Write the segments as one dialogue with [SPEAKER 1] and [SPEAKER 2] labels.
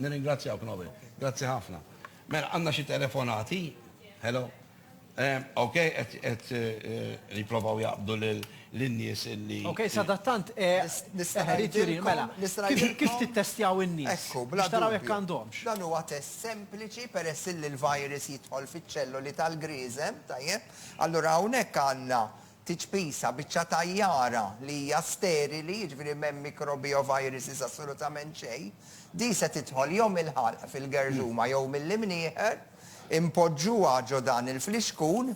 [SPEAKER 1] Nirringrazzjaw Knobi. Grazzi ħafna. Mela, għanna xi telefonati. Hello. Eh, ok, et riprovaw eh, eh, jaqbdu l-nies illi. Ok, sadattant,
[SPEAKER 2] mela, kif tittestjaw in-nies? Ekku, bla taraw jekk
[SPEAKER 3] għandhomx.
[SPEAKER 2] Dan huwa test
[SPEAKER 3] sempliċi peress li l-virus jidħol fiċ-ċelloli tal-griżem, tajjeb. Allura hawnhekk għandna Tiċpisa, biċċa tajjara li hija sterili, jiġifieri m'hemm mikrobi u viruses assolutament xejn, din se tidħol jew mill-ħalq fil-gerżuma jew mill-imnieħer, inpoġġuha ġo dan il-flixkun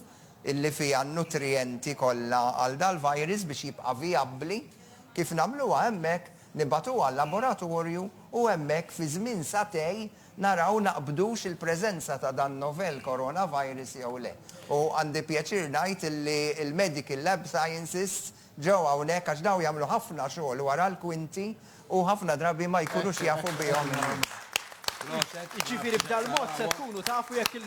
[SPEAKER 3] illi fiha n-nutrijenti kollha għal dal-virus biex jibqa' vijabbli, kif nagħmluha hemmhekk, nibgħatuha għal laboratorju u hemmhekk fi żmien sagħtej naraw naqbdux il-preżenza ta' dan novel coronavirus jew le. U għandi pjaċir ngħid illi l-Medical Lab Sciensists ġew hawnhekk għax dawn jagħmlu ħafna xogħol wara l-kwinti u ħafna drabi ma jkunux jafu bihom in-nies. Jiġifieri
[SPEAKER 2] b'dal-mod se tkunu tafu jekk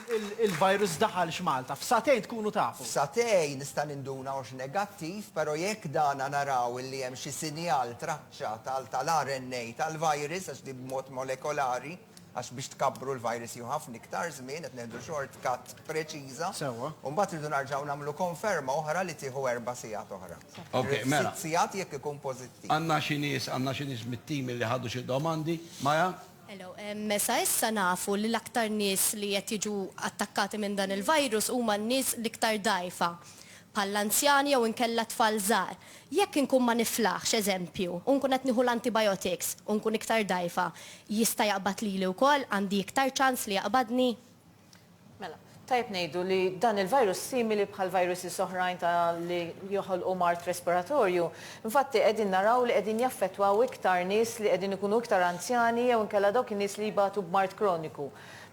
[SPEAKER 2] il-virus daħalx Malta. F'sagħtejn tkunu tafu. F'sagħtejn nista'
[SPEAKER 3] ninduna hux negattiv, però jekk dana naraw illi hemm xi sinjal tra. tal tal-RNA tal-virus għax din b'mod molekolari għax biex tkabbru l-virus jieħu ħafna iktar żmien qed nieħdu short cut preċiża. Sewwa. U mbagħad irridu
[SPEAKER 2] narġgħu
[SPEAKER 3] nagħmlu konferma oħra li tieħu erba' sigħat oħra. Ok, mela. Sitt
[SPEAKER 1] sigħat jekk ikun
[SPEAKER 3] pożittiv. Għandna xi nies, għandna
[SPEAKER 1] xi nies mit-tim li ħadu xi domandi. Maya? Hello.
[SPEAKER 4] Sa issa nafu li l-aktar nies li qed jiġu attakkati minn dan il-virus huma n-nies l-iktar dgħajfa. bħall-anzjani jew inkella tfal żgħar. Jekk inkun ma niflaħx, eżempju, u nkun qed nieħu l-antibiotics, u nkun iktar dgħajfa, jista' jaqbad lili wkoll, għandi iktar ċans li jaqbadni? Mela,
[SPEAKER 5] tajjeb ngħidu li dan il-virus simili bħal viruses oħrajn ta' li joħolqu mard respiratorju. Infatti qegħdin naraw li qegħdin jaffettwaw iktar nies li qegħdin ikunu iktar anzjani jew inkella dawk in-nies li jbatu b'mard kroniku.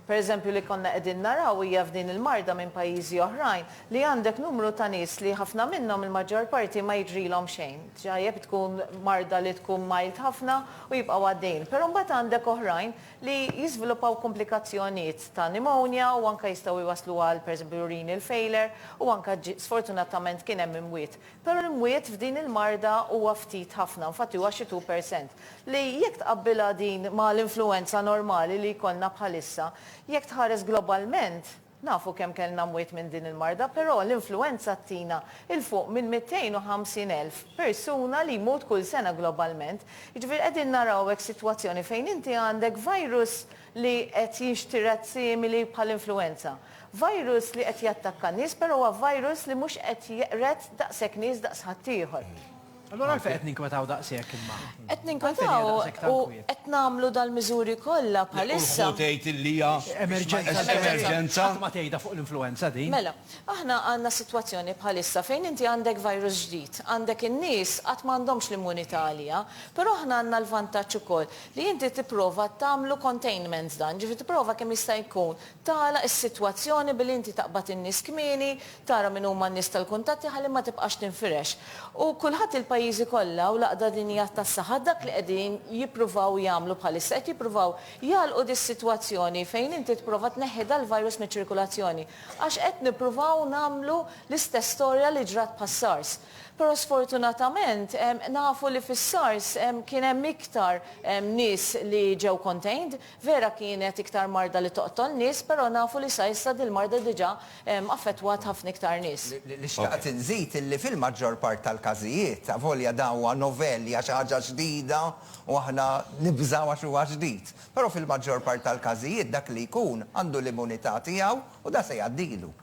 [SPEAKER 5] Pereżempju li konna qegħdin naraw hija f'din il-marda minn pajjiżi oħrajn li għandek numru ta' nies li ħafna minnhom il-maġġor parti ma jiġrilhom xejn, ġajjeb tkun marda li tkun mild ħafna u jibqgħu għaddejjin. Però mbagħad għandek oħrajn li jiżviluppaw komplikazzjonijiet ta' pneumonia u anke jistgħu jwasslu għal pereżempju renal failure u anke sfortunatament kien hemm imwiet. Però l-mwiet f'din il-marda huwa ftit ħafna, infatti huwa xi two percent, li jekk tqabbilha din ma' l-influwenza normali li jkollna bħalissa, jekk tħares globalment, nafu kemm kellna mwiet minn din il-marda, però l-influwenza ttina 'il fuq minn 250 elf persuna li jmut kull sena globalment, jiġifieri qegħdin naraw hekk sitwazzjoni fejn inti għandek virus, li qed jinxtired simili bħall-influwenza. Virus li qed jattakka n-nies però huwa virus li mhux qed jeqred daqshekk nies daqs ħaddieħor. Allura għalfejn qed
[SPEAKER 2] ninkwetaw daqshekk imma? Qed ninkwetaw
[SPEAKER 5] u qed nagħmlu dal-miżuri kollha bħalissa. Hu tgħid
[SPEAKER 1] li hija emerġenza. Qatt ma tgħidha fuq
[SPEAKER 2] l-influwenza din. Mela, aħna
[SPEAKER 5] għandna sitwazzjoni bħalissa fejn inti għandek virus ġdid, għandek in-nies għad m'għandhomx l-immunità għaliha, però aħna għandna l-vantaġġ ukoll li inti tipprova tagħmlu containment dan, jiġifieri tipprova kemm jista' jkun tagħlaq is-sitwazzjoni billi inti taqbad in-nies kmieni, tara min huma n-nies tal-kuntatti ħalli ma tibqax tinfirex. U kulħadd il-pajjiżi kollha u l-Għaqda Dinjija tas-Saħħa dak li qegħdin jippruvaw jagħmlu bħalissa, qed jippruvaw jagħlqu dis-sitwazzjoni fejn inti tipprova tneħħi dal-virus miċ-ċirkulazzjoni. Għax qed nippruvaw nagħmlu l-istess storja li ġrat bħas-SARS. Però sfortunatament nafu li fis-SARS kien hemm iktar nies li ġew contained. Vera kienet iktar marda li toqtol nies, però nafu li sa issa dil-marda diġà affettwat ħafna iktar nies. Li xtaqt inżid
[SPEAKER 3] illi fil-maġġor part tal-każijiet, avolja dan huwa novel, hija xi ħaġa ġdida u aħna nibżgħu għax huwa ġdid, però fil-maġġor part tal-każijiet dak li jkun għandu l-immunità tiegħu u dan se jgħaddilu.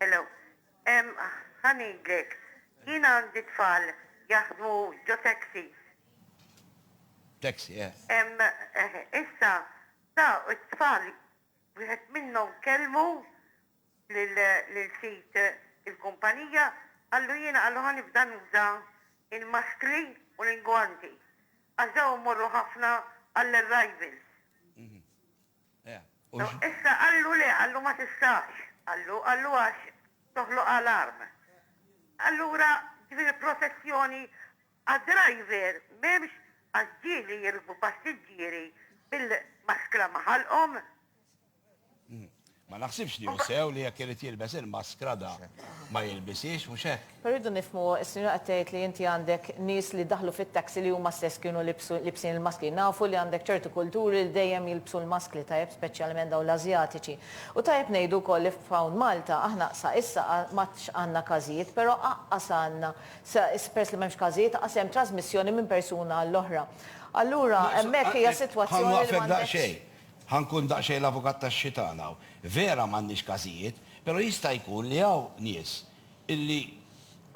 [SPEAKER 1] Hello. Ehm
[SPEAKER 6] ħa ngħidlek. Jien għandi tfal jaħdmu ġo taxis.
[SPEAKER 1] Taxi, yeah. Ehm
[SPEAKER 6] eh issa sa t-tfal wieħed minnhom kellmu lil lil sid il-kumpanija qallu jiena qallu ħa nibda nuża l-maskri u l-ingwanti għax dawn imorru ħafna għall-arrivals. Issa qallu le, qallu ma tistax. Qallu, qallu għax toħloq alarm. Allura din il-protezzjoni għad-driver m'hemmx għax ġieli jirkbu passiġġieri bil-maskra ma' ħalqhom.
[SPEAKER 1] Ma naħsibx li hu sew li jekk irid jilbes il-maskra da ma jilbishiex, mhux hekk? Però rridu nifhmu,
[SPEAKER 5] is-sinjura qed tgħid li inti għandek nies li daħlu fit-taxi li huma stess kienu libsu libsin il-maskli. Nafu li għandek ċertu kulturi li dejjem jilbsu l-maskli tajjeb speċjalment dawn l-Ażjatiċi. U tajjeb ngħidu wkoll li f'hawn Malta aħna sa issa m'għadx għandna każijiet, però aqqas għandna sa is peress li m'hemmx każijiet aqqas hemm trasmissjoni minn persuna għall-oħra. Allura hemmhekk hija sitwazzjoni li m'għandekx. Ħa nwaqfek daqsxejn. Ħa nkun daqsxejn
[SPEAKER 1] l-avukat tax-xitan hawn. Vera m'għandniex każijiet, però jista' jkun li hawn nies illi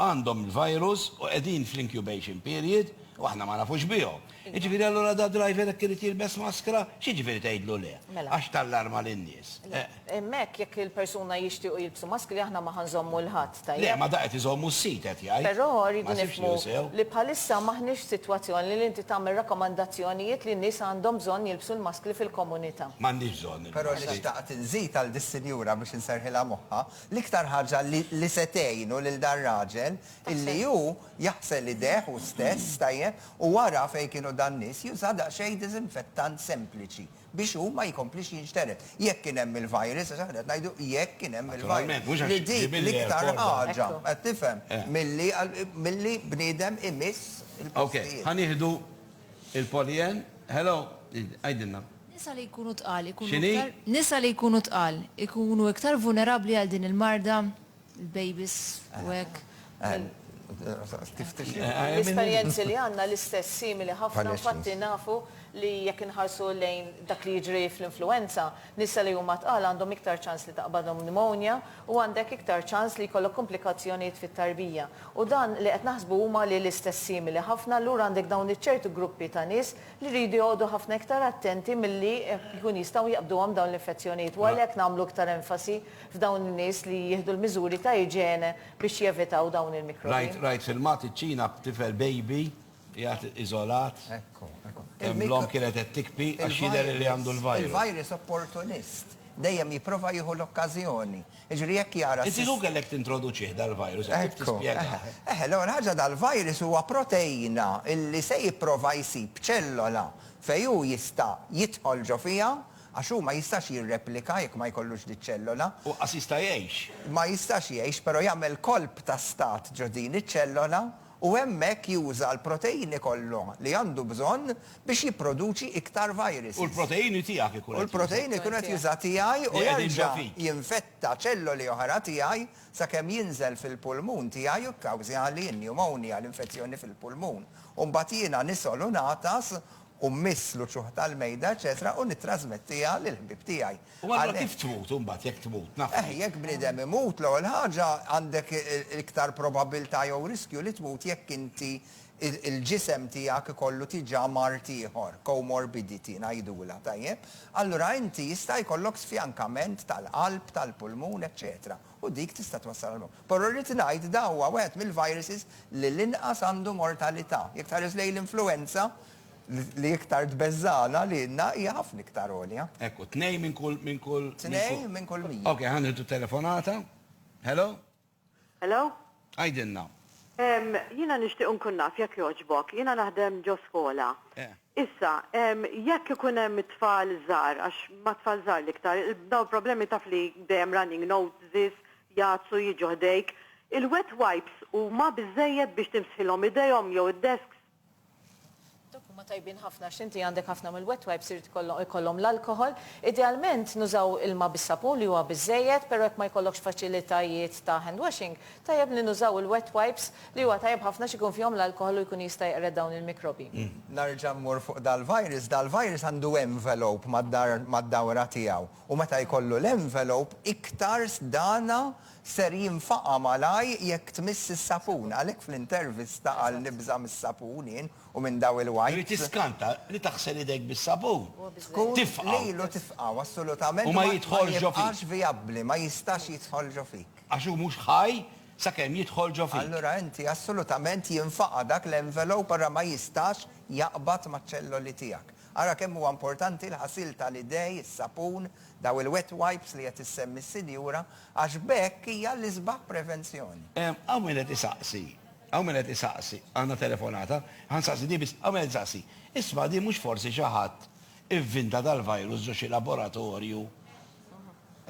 [SPEAKER 1] għandhom il-virus u qegħdin fl-incubation period u aħna ma nafux bihom. Jiġifieri allura dad-driver jekk irid jilbes maskra, x'jiġifieri tgħidlu le? Għax tallarma lin-nies. Imma hekk jekk
[SPEAKER 5] il-persuna jixtiequ jilbsu maskri aħna ma ħa nżommu 'l ħadd, tajjeb? Le, ma da qed iżommu s-sit
[SPEAKER 1] qed jgħid. Però rridu
[SPEAKER 5] nifhmu li
[SPEAKER 1] bħalissa m'aħniex
[SPEAKER 5] f'sitwazzjoni li inti tagħmel rakkomandazzjonijiet li n-nies għandhom bżonn jilbsu l-maskri fil-komunità. M'għandhiex bżonn il-maskri. Però
[SPEAKER 1] nixtaqt
[SPEAKER 3] inżid għal dis-sinjura biex inserrħilha moħħha L-iktar ħaġa li se tgħinu lil dar-raġel illi hu jaħsel idejh hu stess, tajjeb, u wara fejn kienu dan-nies juża daqsxejn diżinfettant sempliċi biex hu ma jkomplix jinxtered. Jekk kien hemm il-virus, għax aħna qed ngħidu jekk kien hemm il-virus, li dik
[SPEAKER 1] l-iktar
[SPEAKER 3] ħaġa, qed
[SPEAKER 1] tifhem,
[SPEAKER 3] milli bniedem imiss il-postijiet. Okej,
[SPEAKER 1] ħa nieħdu il-Poly N. Hello, għidilna. Nisa li jkunu
[SPEAKER 7] tqal ikunu iktar. X'inhi? Nisa
[SPEAKER 1] li jkunu
[SPEAKER 7] tqal ikunu iktar vulnerabbli għal din il-marda, il-bejbis u hekk.
[SPEAKER 5] L-esperjenzi li għandna l-istess simili ħafna, infatti nafu li jekk inħarsu lejn dak li jiġri fl-influwenza, nisa li huma tqal għandhom iktar ċans li taqbadhom pneumonia u għandek iktar ċans li jkollok kumplikazzjonijiet fit-tarbija. U dan li qed naħsbu huma li l-istess simili ħafna, allura għandek dawn iċ-ċertu gruppi ta' nies li jridu joqogħdu ħafna iktar attenti milli jkun jistgħu jaqbduhom dawn l-infezzjonijiet u għalhekk nagħmlu iktar enfasi f'dawn in-nies li jieħdu l-miżuri ta' iġene biex jevitaw dawn il-mikrobi. Rajt filmat iċ-Ċina
[SPEAKER 1] b'tifel baby qiegħed iżolat,
[SPEAKER 3] hemm l-omm kienet qed
[SPEAKER 1] tikpi għax jidher li għandu l-virus. Il-virus opportunist,
[SPEAKER 3] dejjem jipprova jieħu l-okkażjoni. Jiġifieri jekk jara s-. Inti hu kellek tintroduċih
[SPEAKER 1] dal-virus, jekk trid tispjegah. Eħe, eħe,
[SPEAKER 3] l-ewwel
[SPEAKER 1] ħaġa
[SPEAKER 3] dal-virus huwa proteina illi se jipprova jsib ċellola fejn hu jista' jidħol ġo fiha, għax hu ma jistax jirreplika jekk ma jkollux diċ-ċellola. U qas jista' jgħix.
[SPEAKER 1] Ma jistax jgħix,
[SPEAKER 3] però jagħmel kolp ta' stat ġo din iċ-ċellola u hemmhekk juża l-proteini kollha li għandu bżonn biex jipproduċi iktar viruses. U l-proteini tiegħek
[SPEAKER 1] ikun qed juża. U l-proteini jkun qed
[SPEAKER 3] juża tiegħi u jerġa'
[SPEAKER 1] jinfetta ċelloli
[SPEAKER 3] oħra tiegħi sakemm jinżel fil-pulmun tiegħi u kkawżjali n-pneumonia, l-infezzjoni fil-pulmun, u mbagħad jiena nisgħol u ngħatas u mmiss l-uċuħ tal-mejda, eċċetera u nittrażmettiha lill-ħbieb tiegħi. U allura kif tmut
[SPEAKER 1] imbagħad jekk tmut? Naf li. Eħ, jekk bniedem imut,
[SPEAKER 3] l-ewwel ħaġa għandek iktar probabbiltà jew riskju li tmut jekk inti il-ġisem tiegħek ikollu diġà mard ieħor, co-morbidity ngħidulha, tajjeb? Allura inti jista' jkollok sfjankament tal-qalb, tal-pulmun, eċċetera. u dik tista' twassal għal mewt. Però rrid ngħid dan huwa wieħed mill-viruses li l-inqas għandu mortalità. Jekk tħares lejn l-influwenza, li iktar tbeżżagħna lilna, hija ħafna iktar għolja. Hekk hu, tnejn minn kull,
[SPEAKER 1] minn kull. Tnejn minn kull
[SPEAKER 3] mija. Ok, ħa nieħdu telefonata.
[SPEAKER 1] Hello? Hello?
[SPEAKER 6] Għidilna.
[SPEAKER 1] Ehm,
[SPEAKER 6] jiena nixtieq nkun naf, jekk jogħġbok. Jiena naħdem ġo skola. Eh. Issa, ehm, jekk ikun hemm it-tfal żgħar, għax ma' tfal żgħar l-iktar, dawn il-problemi taf li dejjem running noses, jgħatsu, jiġu ħdejk. Il-wet wipes huma biżżejjed biex timsħilhom idejhom jew id-desks?
[SPEAKER 5] Dawk huma tajbin ħafna għax inti għandek ħafna mill-wet wipes irid ikollhom ikollhom l-alkoħol. Idealment nużaw ilma bis-sapun li huwa biżżejjed, però jekk ma jkollokx faċilitajiet ta' hand washing, tajjeb li nużaw il-wet wipes li huwa tajjeb ħafna għax ikun fihom l-alkoħol u jkun jista' jeqred dawn il-mikrobi. Nerġa' mmur
[SPEAKER 3] fuq dal-virus, dal-virus għandu envelope mad-dawra tiegħu u meta jkollu l-envelope iktar sdana Ser jinfaqa' malajr jekk tmiss is-sapun. Għalhekk fl-intervista qal nibża' mis-sapun jien u minn daw il-wipes. Irid tiskanta li
[SPEAKER 1] taħsel idejk bis-sapun. Tkun lilu tifqgħu
[SPEAKER 3] assolutament u ma jidħolġofik.
[SPEAKER 1] vijabbli, ma
[SPEAKER 3] jistax jidħol ġo fik. Għax hu mhux ħaj
[SPEAKER 1] sakemm jidħol ġo fik. Allura inti assolutament
[SPEAKER 3] jinfaqa' dak l-envelope ara ma jistax jaqbad maċ-ċelloli tiegħek. Ara kemm huwa importanti l-ħasil tal-idej, is-sapun, dawn il-wet wipes li qed issemmi s-sinjura għax b'hekk hija l-isbaħ prevenzjoni. Hawn min qed
[SPEAKER 1] isaqsi, hawn min qed isaqsi, għandna telefonata, ħa nsaqsi din biss, hawn min qed isaqsi, isma' din mhux forsi xi ħadd ivvinta dal-virus ġo xi laboratorju,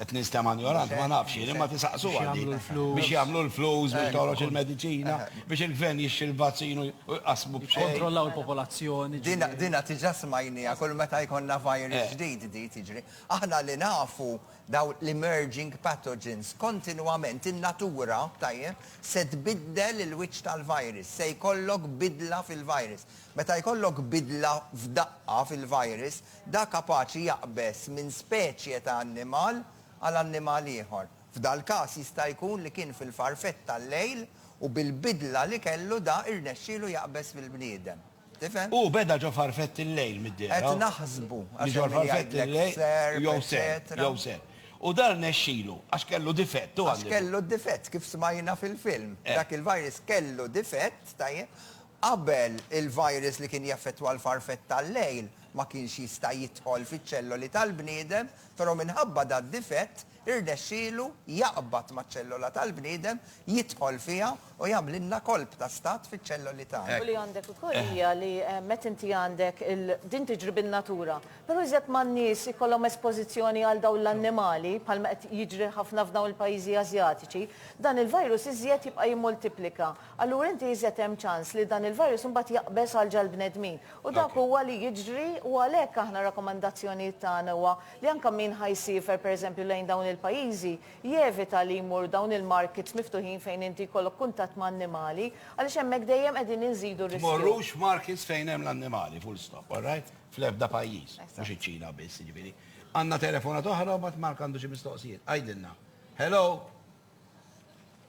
[SPEAKER 1] qed ninstema' njoranti ma nafx jien, imma tisaqsuha din, biex jagħmlu l-flus, biex toħroġ il-mediċina, biex il-gvern jixtri l-vazzin u jqassmu b'xejn. Jikkontrollaw il-popolazzjoni.
[SPEAKER 2] Din diġà
[SPEAKER 3] smajniha, kull meta jkollna virus ġdid din. jiġri. Aħna li nafu dawn l-emerging pathogens kontinwament in-natura, tajjeb, se tbiddel il-wiċċ tal-virus, se jkollok bidla fil-virus. Meta jkollok bidla f'daqqa fil-virus, da kapaċi jaqbeż minn speċje ta' annimal għal annimal ieħor. F'dal-każ jista' jkun li kien fil-farfett tal-lejl u bil-bidla li kellu da irnexxielu jaqbeż fil-bniedem. Tifhem? Hu beda ġo farfett
[SPEAKER 1] il-lejl mid-dehra. Qed naħsbu,
[SPEAKER 3] għax hemm
[SPEAKER 1] min jgħidlek serp, eċċetera. Jew serp. U dan nexxilu, għax kellu difett, u għandu. Għax kellu difett,
[SPEAKER 3] kif smajna fil-film. Dak il-virus kellu difett, tajjeb, qabel il-virus li kien jaffettwa l-farfett tal-lejl ma kienx jista' jidħol fiċ-ċelloli tal-bniedem, però minħabba dad-difett Irnexxielu jaqbad maċ-ċellola tal-bniedem, jidħol fiha u jagħmlilna kolp ta' stat fiċ-ċelloli tagħna. U li għandek ukoll
[SPEAKER 5] hija li meta inti għandek il, din tiġri bin-natura, però iżjed ma' n-nies ikollhom espożizzjoni għal dawn l-annimali, bħalma qed jiġri ħafna f'dawn il-pajjiżi Asjatiċi, dan il-virus iżjed jibqa' jimmultiplika. Allura inti iżjed hemm ċans li dan il-virus imbagħad jaqbeż għal ġall-bnedmin. U dak huwa li jiġri u għalhekk aħna rakkomandazzjonijiet tagħna huwa li anke min ħa jsiefer pereżempju lejn dawn il-pajjiżi jevita li jmur dawn il-markets miftuħin fejn inti jkollok kuntatt ma' annimali għaliex hemmhekk dejjem qegħdin inżidu r-riskju. Tmorrux markets
[SPEAKER 1] fejn hemm l-annimali, full stop, all right? Fl-ebda pajjiż, mhux iċ-Ċina biss, jiġifieri. Għandna telefonata oħra u mbagħad Mark għandu xi mistoqsijiet. Għidilna. Hello?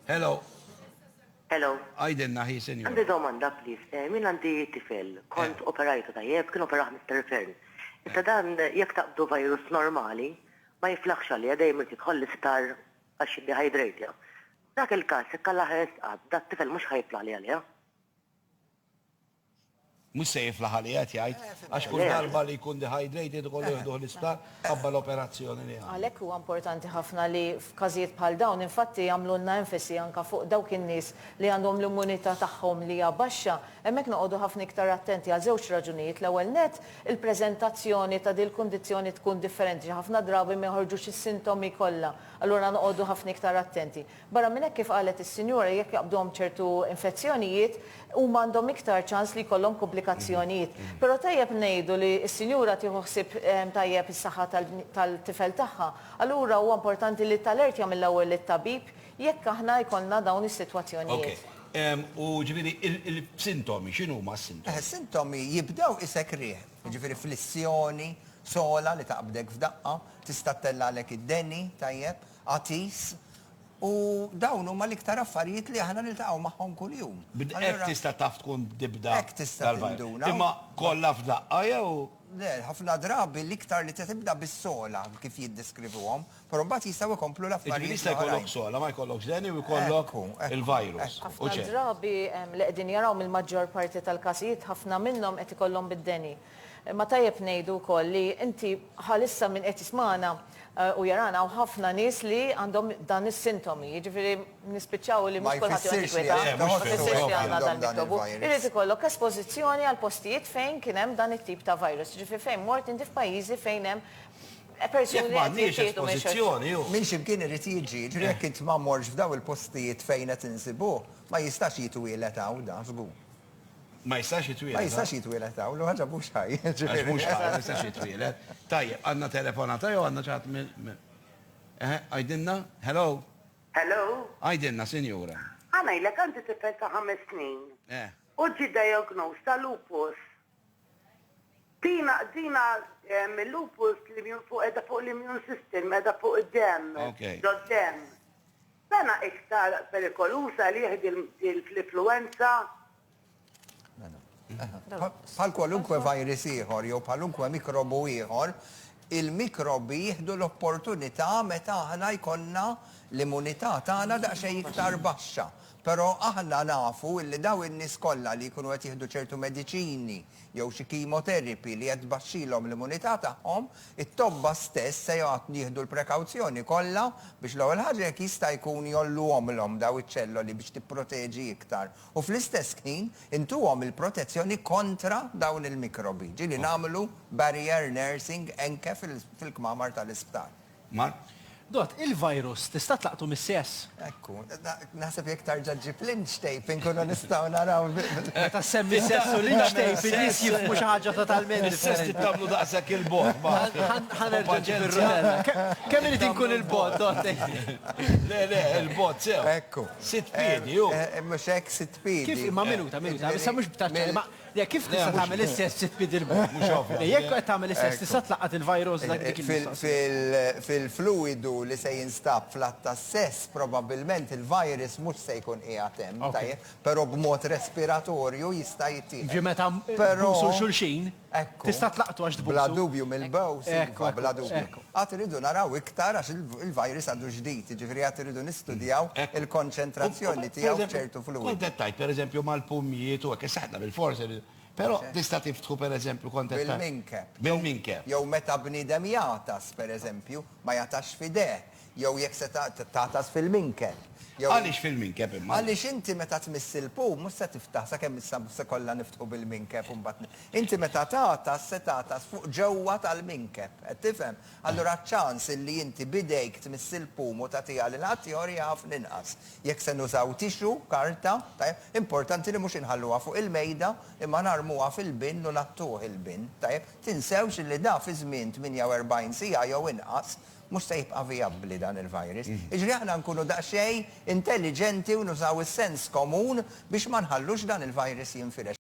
[SPEAKER 1] Hello.
[SPEAKER 8] Hello. Għidilna hi
[SPEAKER 1] sinjura. Għandi domanda please.
[SPEAKER 8] Jien għandi tifel, kont operajtu tajjeb, kien operaħ Mister Fearn. Issa dan jekk taqbdu virus normali ma jiflaħx għalija dejjem irid jidħol l-isptar għax jiddehydratja. F'dak il-każ jekk Alla ħa jistqad dat-tifel mhux ħa jiflaħli għalija?
[SPEAKER 1] Mhux se jiflaħ għaliha, qed jgħid, għax kull darba li jkun dehydrated ikollu jieħduh l-isptar mħabba l-operazzjoni li għamlu. Għalhekk huwa importanti ħafna
[SPEAKER 5] li f'każijiet bħal dawn infatti jagħmlulna enfasi anke fuq dawk in-nies li għandhom l-immunità tagħhom li hija baxxa. Hemmhekk noqogħdu ħafna iktar attenti għal żewġ raġunijiet, l-ewwel nett, il-preżentazzjoni ta' dil-kundizzjoni tkun differenti, xi ħafna drabi ma joħorġux is-sintomi kollha, allura noqogħdu ħafna iktar attenti. Barra minn hekk, kif qalet is-Sinjura, jekk jaqbduhom ċertu infezzjonijiet, huma għandhom iktar ċans li jkollhom kumplikazzjonijiet. Però tajjeb ngħidu li s-sinjura tieħu ħsieb tajjeb is-saħħa tal-tifel tagħha. Allura huwa importanti li t-talert jagħmel l-ewwel lit-tabib jekk aħna jkollna dawn is-sitwazzjonijiet. Ok. U
[SPEAKER 1] ġifieri il-sintomi, x'inhuma s-sintomi? Eħe, s-sintomi jibdew
[SPEAKER 3] isek riħ. Jiġifieri flissjoni, sogħla li taqbdek f'daqqa, tista' ttellagħlek id-deni, tajjeb? Għatis, u dawn huma l-iktar affarijiet li aħna niltaqgħu magħhom kuljum. Hekk tista' taf
[SPEAKER 1] tkun tibda. Hekk tista' tinduna.
[SPEAKER 3] Imma kollha
[SPEAKER 1] f'daqqa jew? Le, ħafna
[SPEAKER 3] drabi l-iktar li tibda bis-sogħla kif jiddeskrivuhom, però mbagħad jistgħu jkomplu l-affarijiet. Jiġifieri jista' jkollok sogħla, ma
[SPEAKER 1] jkollokx deni u jkollok il-virus. Ħafna drabi
[SPEAKER 5] li qegħdin jaraw mill-maġġor parti tal-każijiet ħafna minnhom qed ikollhom bid-deni. Imma tajjeb ngħidu wkoll li inti bħalissa min qed jismagħna u jarana hawn ħafna nies li għandhom dan is-sintomi, jiġifieri nispiċċaw li mhux kulħadd joqgħod jikwita, ma jfissirx li għandna dan mikrobu. Irid ikollok espożizzjoni għal postijiet fejn kien hemm dan it-tip ta' virus, jiġifieri fejn mort inti f'pajjiżi fejn hemm persuni li qed jittieħdu minn xulxin. Minn xi
[SPEAKER 1] mkien irid
[SPEAKER 3] jiġi, jiġifieri jekk int ma mortx f'dawn il-postijiet fejn qed insibuh, ma jistax jitwieled hawn dan żgur. Ma jistax
[SPEAKER 1] jitwieled. Ma jistax jitwieled hawn,
[SPEAKER 3] u ħaġa mhux ħaj. Għax mhux ħaj, ma
[SPEAKER 1] jistax jitwieled. Tajjeb, għandna telefonata jew għandna ċaħat minn. Eħe, għajdinna? Hello? Hello?
[SPEAKER 8] Għajdinna,
[SPEAKER 1] sinjura. Għanajlek għandi
[SPEAKER 8] tifel ta' ħames snin. Eh. U ġi diagnosed ta' lupus. Dina, dina lupus li mjun fuq edha fuq l-immune system, edha fuq id-dem, dod-dem. Sena iktar perikoluża li hi din
[SPEAKER 3] fl-influwenza. Bħal kwalunkwe virus ieħor jew bħalunkwe mikrobu ieħor, il-mikrobi jieħdu l-opportunità meta aħna jkollna l-immunità tagħna daqsxejn iktar baxxa. Però aħna nafu li dawn in-nies kollha li jkunu qed jieħdu ċertu mediċini, jew xi kimoteripy li qed tbaxxilhom l-immunità tagħhom, it-tobba stess se joqgħod jieħdu l-prekawzjoni kollha biex l-ewwel ħaġa jekk jista' jkun jgħolluhomlhom dawn iċ-ċelloli biex tipproteġi iktar u fl-istess ħin intuhom il-protezzjoni kontra dawn il-mikrobi, ġieli nagħmlu barrier nursing anke fil-kmamar tal-isptar. Mar. Dott,
[SPEAKER 2] il-virus tista' tlaqtu mis-sess? Ekku.
[SPEAKER 3] Naħseb jekk tarġa' ġġib l-inch tape inkunu nistgħu naraw. Meta ssemmi
[SPEAKER 2] s-sess u l-inch tape in-nies jifhmu xi ħaġa totalment differenti. Is-sess trid tagħmlu
[SPEAKER 1] daqshekk 'il bogħod, Mark. Ħa nerġa'
[SPEAKER 2] nġib ir-rutella. Kemm irid inkun 'il bogħod, Dott, tgħidli? Le,
[SPEAKER 1] le, 'il bogħod sew. Ekku. Sitt piedi,
[SPEAKER 3] hu.
[SPEAKER 1] Mhux hekk, sitt
[SPEAKER 3] piedi. Kif? Imma minuta, minuta.
[SPEAKER 2] Issa mhux b'taċċa, imma Le, kif tista' tagħmel is-sess sitt pied 'il bogħod? Mhux ovvja. Le, jekk qed tagħmel is-sess tista' tlaqqat il-virus dak dik il-mistoqsija. Fil-fluwidu
[SPEAKER 3] li se jinstab fl-att tas-sess probabbilment il-virus mhux se jkun qiegħed hemm, tajjeb, però b'mod respiratorju jista' jittieħed. Jiġifieri meta tbusu
[SPEAKER 2] 'l xulxin tista' tlaqqtu għax tbusu. Bla dubju mill-bows,
[SPEAKER 3] iva, bla dubju. Għad irridu naraw iktar għax il-virus għadu ġdid, jiġifieri għad irridu nistudjaw il-konċentrazzjoni tiegħu f'ċertu fluwidi. Kont qed tgħid, pereżempju,
[SPEAKER 1] mal-pumjiet u hekk, issa aħna bilfors irridu. Però tista' tiftħu, pereżempju, kont qed tgħid. Bil-minkeb. Bil-minkeb.
[SPEAKER 3] Jew
[SPEAKER 1] meta bniedem
[SPEAKER 3] jagħtas, pereżempju, ma jagħtax f'idejh, jew jekk se tagħtas fil-minkeb, jew. Għaliex fil-minkeb
[SPEAKER 1] imma? Għaliex inti meta tmiss
[SPEAKER 3] il-pum mhux se tiftaħ, sakemm issa se kollha niftħu bil-minkeb u mbagħad. Inti meta tagħtas se tagħtas fuq ġewwa tal-minkeb. Qed tifhem? Allura ċ-ċans illi inti b'idejk tmiss il-pum u tagħtiha lil ħaddieħor hija ħafna inqas. Jekk se nużaw tixu, karta, tajjeb, importanti li mhux inħalluha fuq il-mejda imma narmuha fil-bin u ngħattuh il-bin, tajjeb. Tinsewx illi da fi żmien 48 siegħa jew inqas mhux se jibqa' vijabbli dan il-virus. Jiġri aħna nkunu daqsxejn intelliġenti u nużaw is-sens komun biex ma nħallux dan il-virus jinfirex.